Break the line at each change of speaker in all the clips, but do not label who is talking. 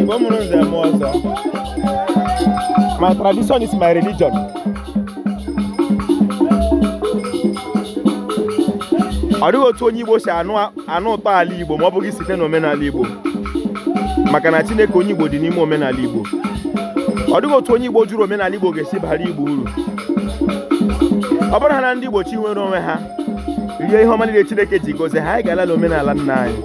Igbo mụrụ nze mụọ ọzọ my tradition is my religion ọ dịghị otu onye Igbo si anụ ụtọ ala Igbo ma ọ bụghị site na omenala Igbo maka na Chineke onye Igbo dị n'ime omenala Igbo ọ dịghị otu onye Igbo jụrụ omenala Igbo ga-esi baara Igbo uru ọ bụrụ ha na ndị Igbo chọ inwere onwe ha rie ihe ọma niile Chineke ji gozie ha anyị ga-ala na omenala nna anyị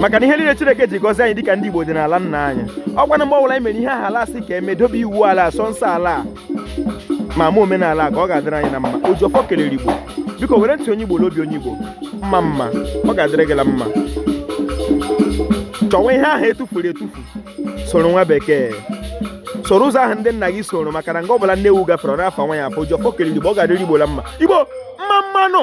maka na ihe niile Chineke ji gozie anyị dịka ndị Igbo dị n'ala nna anyị ọ kwanụ mgbe ọbụla anyị mere ihe ahụ ala a sị ka e mee dobe iwu ala a sọọ nsọ ala a ma mee omenala ka ọ ga-adịrị anyị na mma Ojiọfọ kelere Igbo biko were ntị onye Igbo n'obi onye Igbo mma mma ọ ga-adịrị gị na mma chọwa ihe ahụ etufuru etufu soro nwa bekee soro ụzọ ahụ ndị nna gị soro maka na nga ọbụla nne ewu gafere ọ na-afa nwa ya afa Ojiọfọ kelere igbo ọ ga-adịrị igbo la mma igbo mma mma nụ